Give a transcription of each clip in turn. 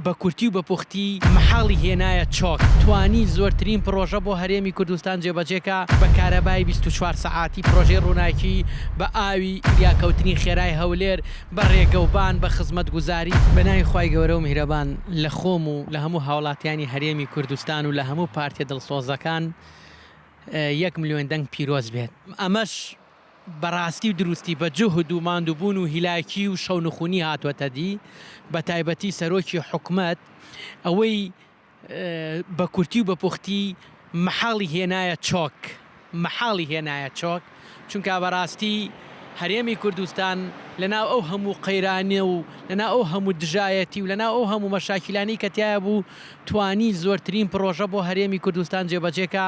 بە کورتی و بە پوختی مەحاڵی هێنایە چۆک، توانی زۆرترین پڕۆژە بۆ هەرێمی کوردستان جێبەجێ کا، بە کارەبای بیست و چوار سەعاتی، پڕۆژەی ڕووناکی، بە ئاوی، فریاکەوتنی خێرای هەولێر، بە ڕێگەوبان، بە خزمەتگوزاری. بە ناوی خوای گەورە و میهرەبان لە خۆم و لە هەموو هاوڵاتیانی هەرێمی کوردستان و لە هەموو پارتیە دڵسۆزەکان یەک ملیۆن دەنگ پیرۆز بێت ئەمەش. بەڕاستی و دروستی بە جوهد و ماندوبون و هیلاکی و شەونخونی هاتوەتە دی بە تایبەتی سەرۆکی حکومەت ئەوەی بە کورتی و بە پوختی مەحاڵی هێنایە چۆک مەحاڵی هێنایە چۆک چونکا بەڕاستی هەرێمی کوردستان لە ناو ئەو هەموو قەیرانە و لە ناو ئەو هەموو دژایەتی و لە ناو ئەو هەموو مەشاکیلانەی کە تیایە بوو توانی زۆرترین پڕۆژە بۆ هەرێمی کوردستان جێبەجێکا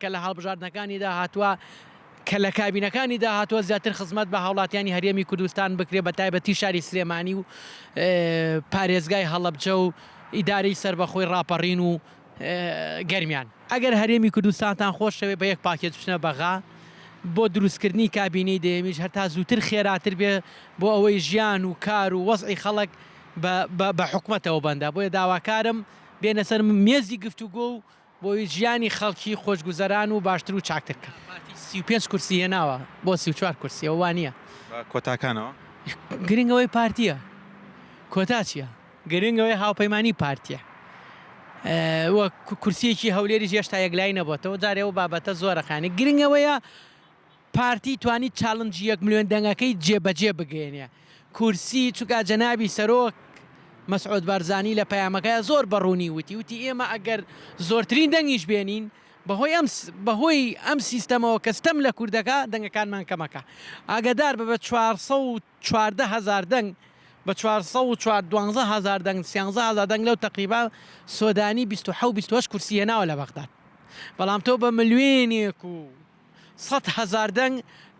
کە لە هەڵبژاردنەکانیدا هاتووە، کە لە کابینەکانیدا هاتووە زیاتر خزمەت بە هاوڵاتیانی هەرێمی کوردستان بکرێت بە تایبەتی شاری سلێمانی و پارێزگای هەڵەبجە و ئیدارەی سەربەخۆی ڕاپەڕین و گەرمیان. ئەگەر هەرێمی کوردستانتان خۆشەوێت بە یەک پاکێج بچنە بەغا، بۆ دروستکردنی کابینەی دەیەمیش هەر تا زووتر خێراتر بێت، بۆ ئەوەی ژیان و کار و وەزعی خەڵک بە حکومەتەوە بەندە، بۆیە داواکارم بێنە سەر مێزی گفتوگۆ و بۆ ژیانی خەڵکی خۆشگوزەران و باشتر و چاکتر بکەن. پارتی سی و پێنج کورسی هێناوە بۆ سی و چوار کورسی ئەوە وانیە. بە کۆتاکانەوە. گرنگ ئەوەی پارتیە کۆتا چیە؟ گرنگ ئەوەی هاوپەیمانی پارتیە و کورسیەکی هەولێریش هێشتا یەکلایی نەبۆتەوە جارێ ئەو بابەتە زۆرە خانی گرنگ ئەوەیە پارتی توانی چاڵنجی یەک ملوێن دەنگەکەی جێ بەجێ بگەیەنێ کورسی چونکا جەنابی سەرۆک مەسعود بارزانی لە پەیامەکەیا زۆر بە ڕوونی وتی وتی ئێمە ئەگەر زۆرترین دەنگیش بێنین بەهۆی ئەم بەهۆی ئەم سیستەمەوە کە ستەم لە کوردەکە دەنگەکانمان کەمەکە ئاگدار بە بە 414 هزار دەنگ بە 412 هزار دەنگ 13 هزار دەنگ لەو تقریبا سۆدانی 20 کورسی هێناوە لە بەغداد بەڵام تۆ بە ملوێنێک و سەد هەزار دەنگ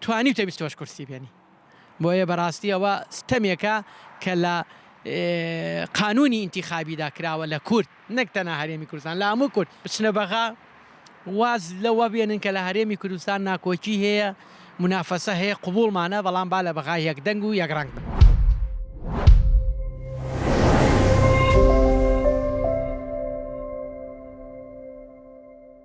توانیوتە بیست و هەشت کورسی بێنی بۆیە بەراستی ئەوە ستەمێکە کە لە قانونی ئینتیخابیدا کراوە لە کورد نەک تەنها هەرێمی کوردستان لە هەموو کورد بچنە بەغا واز لەوە بێنن کە لە هەرێمی کوردستان ناکۆکی هەیە منافەسە هەیە قوبوڵمانە بەڵام با لە بەغا یەک دەنگ و یەک ڕەنگ بن.